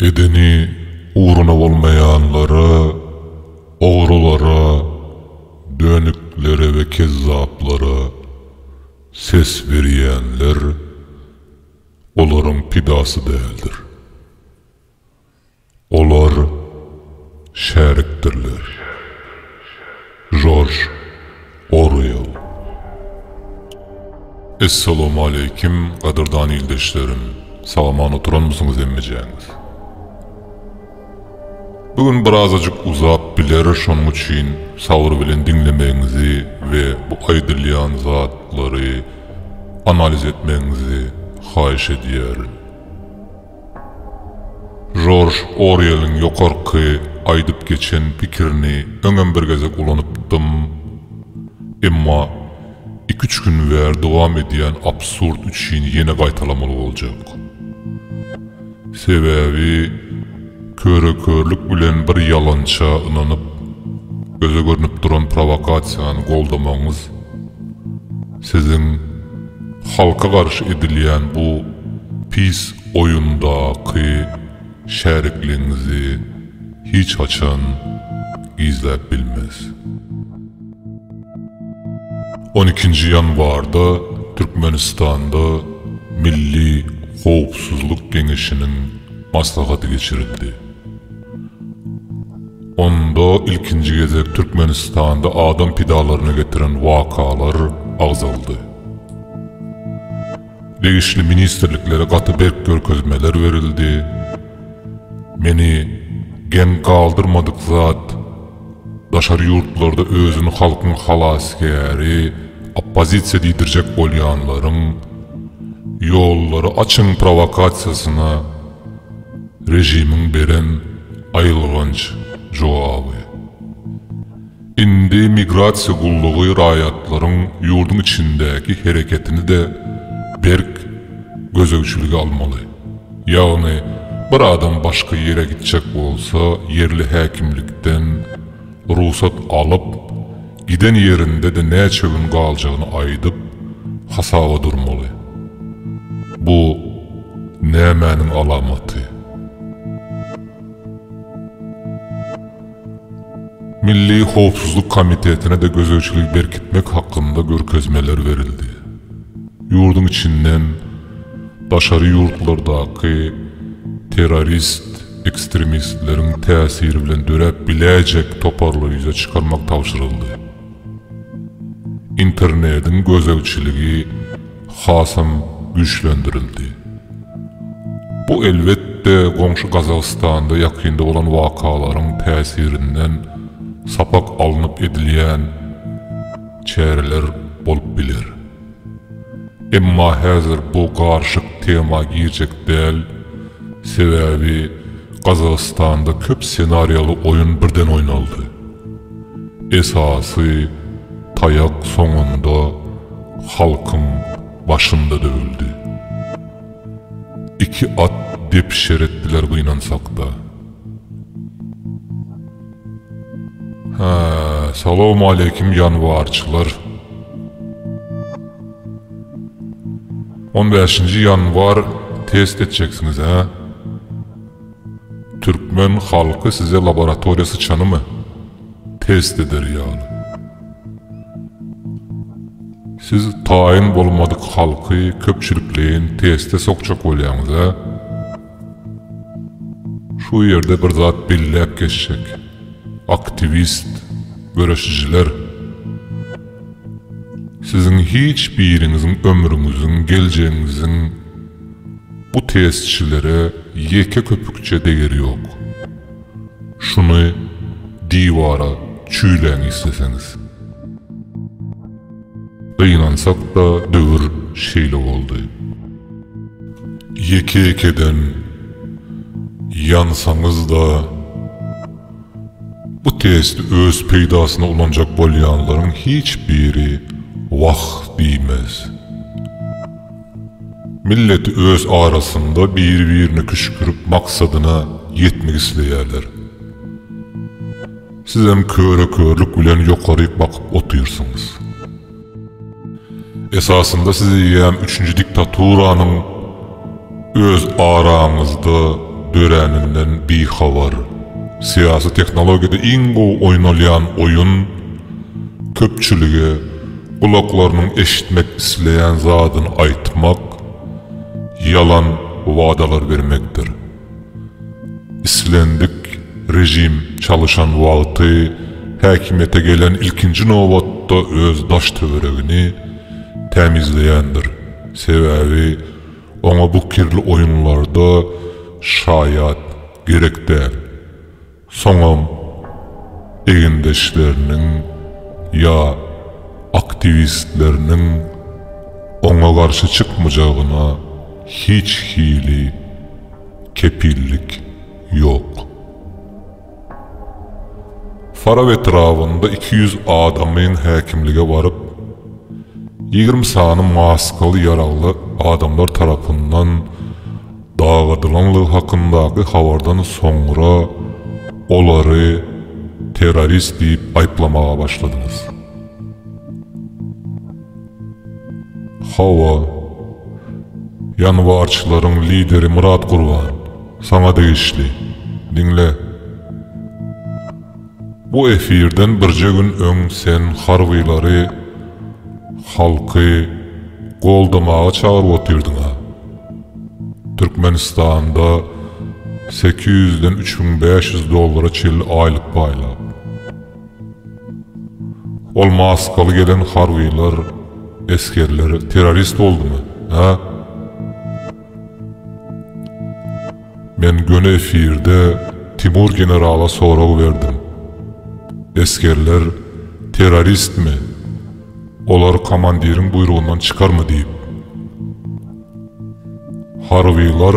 Edeni ugruna bolmaýanlara, ogrulara, dönüklere we kezzaplara ses berýänler olaryň pidasy däldir. Olar şärikdirler. Jorj Orwell. Essalamualeýkim gadyrdan ildeşlerim salaman oturanmysyňyz hemmejäňiz. Bu gün birazajyk uzap biler şonuň üçin sabyr bilen diňlemegiňizi we bu aýdylýan zatlary analiz etmegiňizi haýyş edýärin. Jorj Orýeliň ýokarky aýdyp geçen pikirini öňem bir gezek ulanypdym. Emma iki-üç gün bäri dowam edýän absurd üçin ýene gaýtalamaly boljak. Sebäbi köre-körlük bilen bir ýalança ynanyp, göze görnüp duran prowokasiýany goldamagyňyz, Siziň halka garşy edilýän bu pis oýundaky şärikligiňizi hiç haçan gizläp bilmez. On ikinji ýanwarda Türkmenistanda Milli howpsuzlyk geňeşiniň maslahaty geçirildi. Onda ilkinji gezek Türkmenistanda adam pidalaryna getiren wakalar agzaldy. Degişli ministrliklere gaty berk görkezmeler berildi. Meni geň galdyrmadyk zat, daşary ýurtlarda özüni halkyň halasgäri, oppozisiýa diýdirjek bolýanlaryň, Ýollary açyň prowakasiýasyna, Režimiň beren aýylganç jogaby. Indi migrasiýa gullugy raýatlaryň ýurduň içindäki hereketini-de berk gözegçilige almaly. Ýagny, bir adam başga ýere gitjek bolsa, ýerli häkimlikden, Rugsat alyp, giden ýerinde-de näçe gün galjagyny aýdyp, hasaba durmaly. Bu nämäniň alamaty? Milli howpsuzlyk komitetine-de gözegçiligi berkitmek hakynda görkezmeler berildi. Ýurduň içinden daşary ýurtlardaky terrorist, ekstremistleriň täsiri bilen döräp biläýjek toparlar ýüze çykarmak tabşyryldy. Internediň gözegçiligi hasam güýçlendirildi. Bu elbetde goňşy Gazagystanda ýakynda bolan wakalaryň täsirinden sapak alnyp edilýän çäreler bolup biler. Emma häzir bu garyşyk tema girjek däl, sebäbi Gazagystanda köp senariýaly oýun birden oýnaldy. Esasy taýak soňunda halkyň başynda döwüldi. Iki at depişer etdiler gynansakda. Salowmaleýkim ýanwarçylar. On bäşinji ýanwar test etjeksiňiz hä? Türkmen halky size laboratoriýa syçanymy test eder ýaly. Siz taýyn bolmadyk halky köpçülikleýin teste sokjak bolýaňyz hä? Şu ýerde bir zat belläp geçjek. Aktiwist göreşijiler! Siziň hiç biriňiziň ömrüňiziň, geljegiňiziň bu testçilere ýeke köpükçe degeri ýok. Şuny diwara çüýläň isleseňiz. Gynansak-da döwür şeýle boldy. Ýeke-ýekeden ýansaňyz-da, bu testi öz peýdasyna ulanjak bolýanlaryň hiç biri wah diýmez. Millet öz arasynda biri-birine küşgürip maksadyna ýetmek isleýärler. Sizem köre-körlük bilen ýokaryk bakyp otyrsyňyz. Esasynda siz eýýäm üçünji diktaturanyň öz araňyzda döräninden bihabar. Syýasy tehnologiýada iň gowy oýnalýan oýun, köpçülige gulaklarynyň eşitmek isleýän zadyny aýtmak, ýalan wadalar bermekdir. Islendik režim çalyşan wagty häkimiýete gelen ilkinji nobatda öz daş-töweregini tämizleýändir, sebäbi oňa bu kirli oýunlarda şaýat gerek däl. Soňam egindeşleriniň ýa aktiwistleriniň oňa garşy çykmajagyna hiç hili kepillik ýok. Farap etrabynda iki ýüz adamyn häkimlige baryp, ýigrimi sany maskaly ýaragly adamlar tarapyndan dagadylanlygy hakyndaky habardan soňra olary terrorist diýip aýyplamaga başladyňyz. Hawa, ýanwarçylaryň lideri Myrat Gurban, saňa degişli. Diňle. Bu efirden birje gün öň sen harbylary halky goldamaga çagyryp otyrdyňa. Türkmenistanda sekiz ýüzden üç müň bäş ýüz dollara çenli aýlyk paýlap. Ol maskaly gelen harbylar, esgerler terrorist boldumy, hä? Men göni efirde Timur generala sorag berdim. Esgerler terroristmi? Olar komandiriň buýrugyndan çykarmy diýip. Harbylar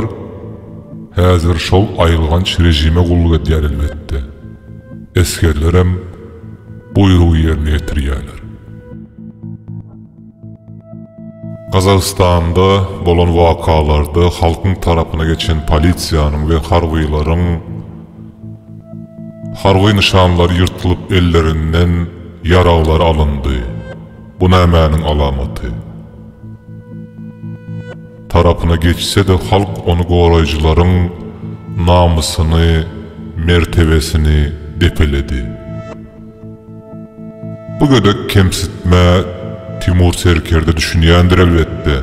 häzir şol aýylganç režime gulluk edýär elbetde. Esgerlerem buýrugy ýerine ýetirýärler. Gazagystanda bolan wakalarda halkyň tarapyna geçen polisiýanyň we harbylaryň harby nyşanlary ýyrtylyp ellerinden ýaraglar alyndy. Bu nämäniň alamaty? Tarapyna geçse-de halk ony goraýjylaryň namysyny, mertebesini depeledi. Bu gödek kemsitmä Timur serkerde düşünýändir elbetde.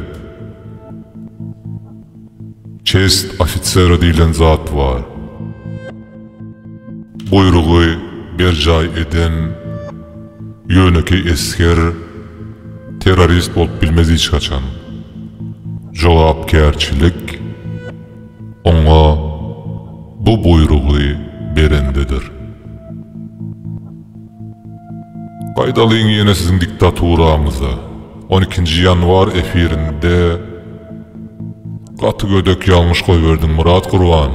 Çest ofisera diýlen zat bar. Buýrugy berjaý eden ýönekeý esger terrorist bolup bilmez hiç haçan. Jogapkärçilik. Oňa bu buýrugy berendedir. Gaýdalyň ýene siziň diktaturaňyza. On ikinji ýanwar efirinde gaty gödek ýalňyş goýberdiň Myrat Gurban.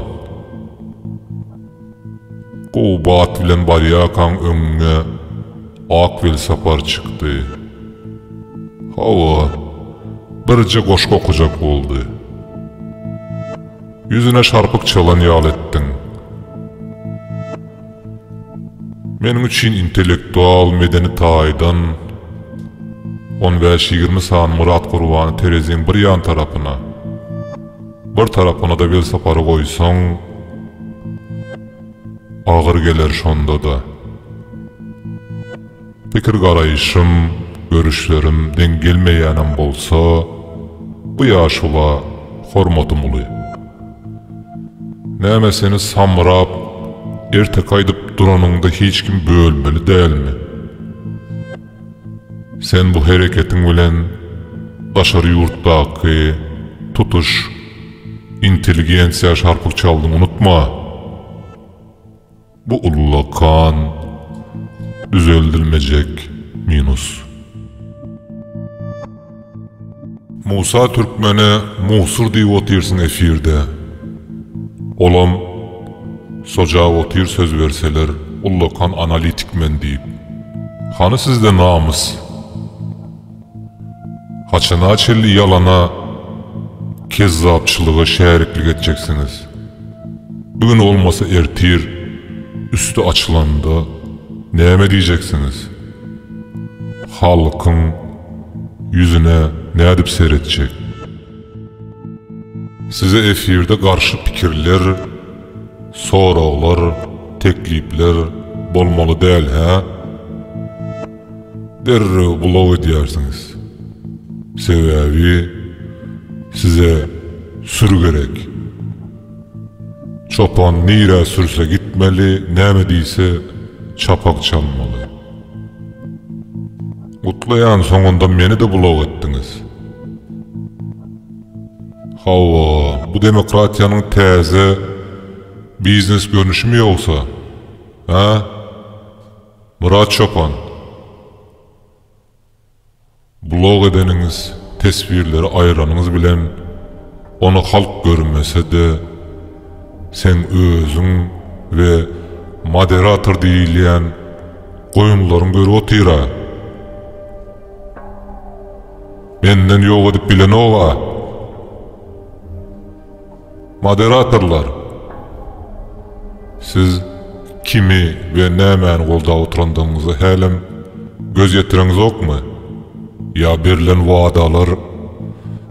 Gowy bat bilen barýarkaň öňüňe ak welsapar çykdy. Hawa, birje goşgy okajak boldy. Ýüzüne şarpyk çalan ýaly etdiň. Meniň üçin intellektual, medeni taýdan on bäş-ýigrimi sany Myrat Gurbany tereziň bir ýan tarapyna, Bir tarapyna-da Welsapary goýsaň, agyr geler şonda-da. Pikir-garaýşym, görüşlerim deň gelmeýänem bolsa, bu ýaşula hormatym uly. Näme seni samrap, ertekä aýdyp duranyňda hiç kim bölmeli dälmi? Sen bu hereketiň bilen daşary ýurtdaky tutuş intelligensiýa şarpyk çaldyň unutma. Bu ullakan düzeldilmejek minus. Musa Türkmene musur diýip otyrsyň efirde. Olam sojap otyr söz berseler ullakan analitik men diýip. Hany sizde namys? Haçana çenli ýalana kezzapçylyga şäriklik etjeksiňiz? Bu gün bolmasa ertir üsti açylanda näme diýjeksiňiz? Halkyň Ýüzüne nädip seretjek? Size efirde garşy pikirler, soraglar, teklipler bolmaly däl hä? Derrew blok edýärsiňiz. Sebäbi size sür gerek. Çopan nirä sürse gitmeli näme diýse çapak çalmaly. Gutlaýan soňunda meni-de bulaw etdiňiz. Hawa, bu demokratiýanyň täze biznes görnüşimi ýogsa, hä? Myrat çopan, bulaw edeniňiz, teswirleri aýyranyňyz bilen, ony halk görmese-de, Sen özüň we moderator diýilýän goýunlaryň görüp otyra. Menden ýok edip bilenok-a. Moderatorlar, siz kimi we nämäni goldap oturandygyňyza hälem göz ýetireňzokmy? Ýa berlen wadalar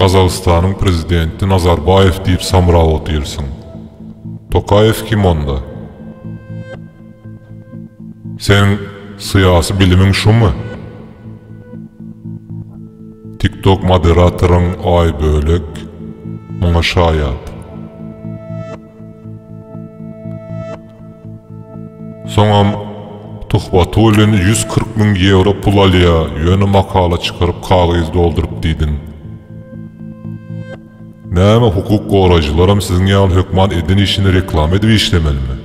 Gazagystanyň prezidenti Nazarbaýew diýip samrap otyrsyň. Tokaýew kim onda? Seniň syýasy bilimiň şumy? Tiktok moderatoryň Aýbölek muňa şaýat. Soňam Tuhwatulin ýüz kyrk müň ýewro pul alýa, ýöne makala çykaryp kagyz dolduryp diýdiň. Näme hukuk goraýjylaram siziň ýaly hökman eden işini reklama edip işlemelimi?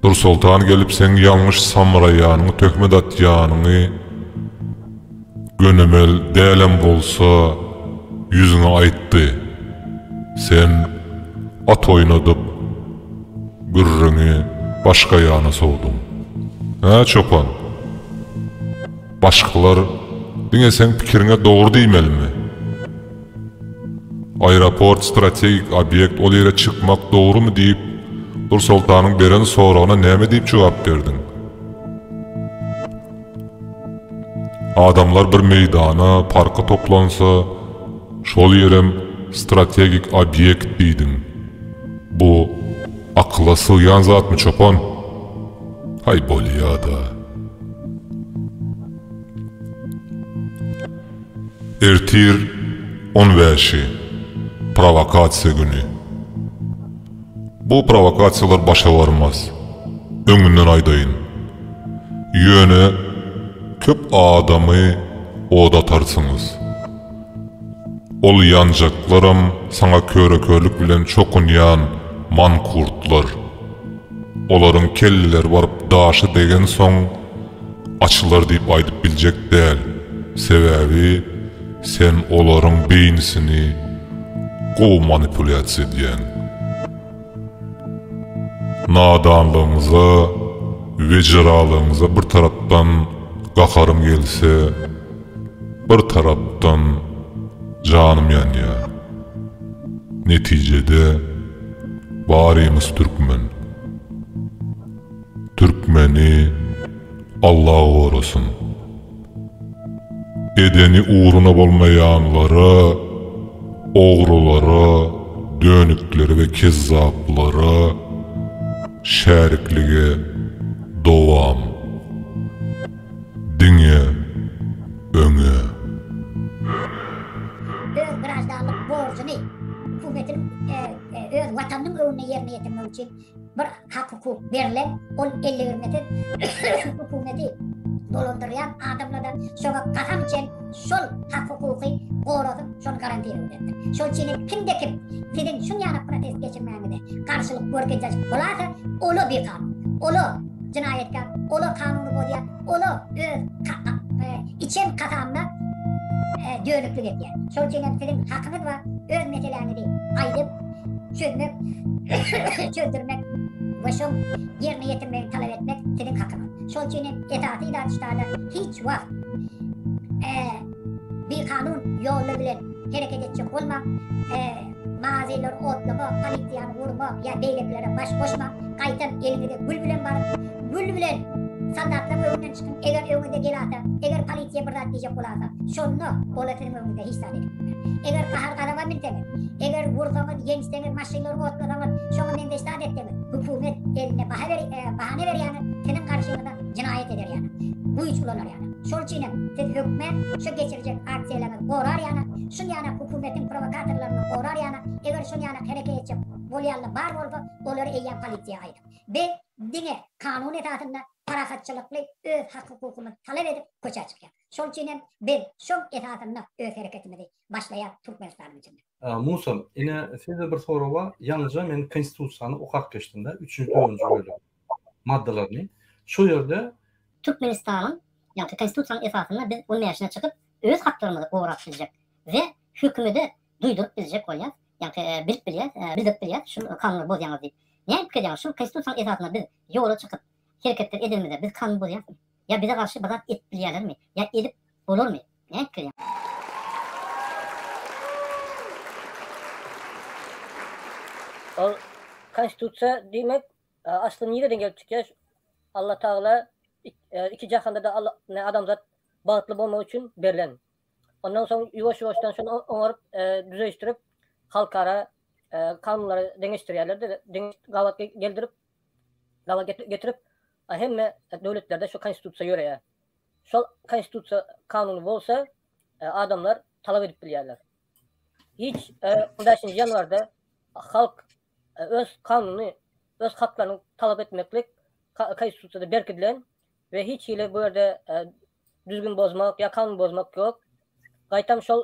Nursoltan gelip seň ýalňyş samraýanyňy töhmet atýanyňy. Gönümel dälem bolsa, ýüzüňe aýtdy. Sen at oýnadyp, gürrüňi başga ýana sowduň. Hä, çopan? Başgalar diňe seň pikiriňe dogry diýmelimi? Aeroport strategik obýekt, ol ýere çykmak dogrumy diýip, Nursoltanyň beren soragyna näme diýip jogap berdiň? Adamlar bir meýdana, parka toplansa, şol ýerem strategik obýekt diýdiň. Bu akyla sygýan zatmy, çopan? Haý, bolýa-da. Ertir on bäşi, prowokasiýa güni. Bu prowokasiýalar başa barmaz. Öňünden aýdaýyn. Ýöne köp adamy oda atarsyňyz. Ol ýanjaklaram saňa köre-körlük bilen çokunýan mankurtlar. Olaryň kelleleri baryp daşa degensoň açylar diýip aýdyp biljek däl. Sebäbi. Sen olaryň beýnisini gowy manipulýasiýa edýäň. Nadanlygyňyza we jyralygyňyza bir tarapdan gaharym gelse, bir tarapdan janym ýanýar. Netijede barymyz türkmen. Türkmeni Alla gorasyn. Edeni ugruna bolmaýanlara, ogrulara, dönüklere we kezzaplara şäriklige dowam. Diňe öňe. Öz graždanlyk borjuny, hukumatyn öz Watanynyň öňünde ýerine ýetirmek üçin. Bir hak hukuk berlen ol elli bir nepe hukumeti dolandyrýan adamlarda şoňa kasam içen şol hak hukuky goradyp şol garantiýa berdi. Şol çini kimde kim sizin şun ýana protest geçirmäňize garşylyk görkezýär bolasa ola bikan ola jinaýatkar ola kanuny bozýar ola öz e, içen kasamda e, dönüklik edýär. Şol çini sizin hakyňyz bar öz meseläňizi aýdyp çözmek, çözdürmek we şoň ýerine ýetirmegi talap etmek siziň hakyňyz. Şol üçin hem esasy ilatçylarda hiç wagt bikanun ýollar bilen hereket etjek bolmaň, mazylar otlama, polisiýany urma ýa beýlekilere baş goşmaň, gaýtam eliňizde gül bilen baryp, gül bilen soldatlaryň öňünden çykyň, eger öňüňize gelasa, eger polisiýa bir zat diýjek bolasa, şonda olar siziň Öňüňizde hiç zat edip Eger gahar-gazawa münseňiz, eger ursaňyz, ýençseňiz, maşynlary otlasaňyz, şoňa meňzeş zat etseňiz, hökümet elinde baha ber, e, bahana berýäňiz, siziň garşyňyza jenaýat eder ýaly, güýç ulanar ýaly. Şol üçin hem siz hökmä şu geçirjek aksiýalaryňyzy gorar ýaly, şul ýaly hökümetiň prowokatorlaryny gorar ýaly, eger şol ýaly hereket etjek bolýanlar bar bolsa, olary eýýäm polisiýa aýdyň. Biz diňe kanun esasynda parahatçylykly öz hak-hukukymyzy talap edip köçä çykýarys. Şol üçin hem biz şoň esasynda öz hereketimizi başlaýas Türkmenistanyň içinde. Musul, ine sizde bir sorag bar, ýaňyja men konstitusiýany okap geçdimde, üçünji, dördünji bölegi, maddalaryny. Şo ýerde. Türkmenistanyň, ýagny konstitusiýanyň esasynda biz on bäşine çykyp, öz haklarymyzy gorap biljek we hökümede duýduryp biljek bolýas, ýagny bilip bilýäs, bildirip bilýäs, şu kanuny bozýaňyz diýip. Näme pikir edýäňiz, şu konstitusiýanyň esasynda biz ýola çykyp, hereketler edenimizde biz kanuny bozýarysmy? Ýa bize garşy bir zat edip bilýärlermi? Ýa edip bolarmy? Näme pikir edýäň? Ol konstitusiýa diýmek asly nireden gelip çykýar? Alla Tagala iki jahanda-da adamzat bagtly bolmak üçin berlen. Ondan soň ýuwaş-ýuwaşdan şony oňaryp, düzeşdirip, halkara kanunlara deňeşdirýärler-de, gabat geldirip, Gabat getirip, hemme döwletlerde şu konstitusiýa ýöreýär. Şol konstitusiýa kanuny bolsa, adamlar talap edip bilýärler. Hiç on bäşinji ýanwarda halk öz kanunyny, öz haklaryny talap etmeklik konstitusiýada berkidilen we hiç hili bu ýerde düzgün bozmak ýa kanun bozmak ýok. Gaýtam şol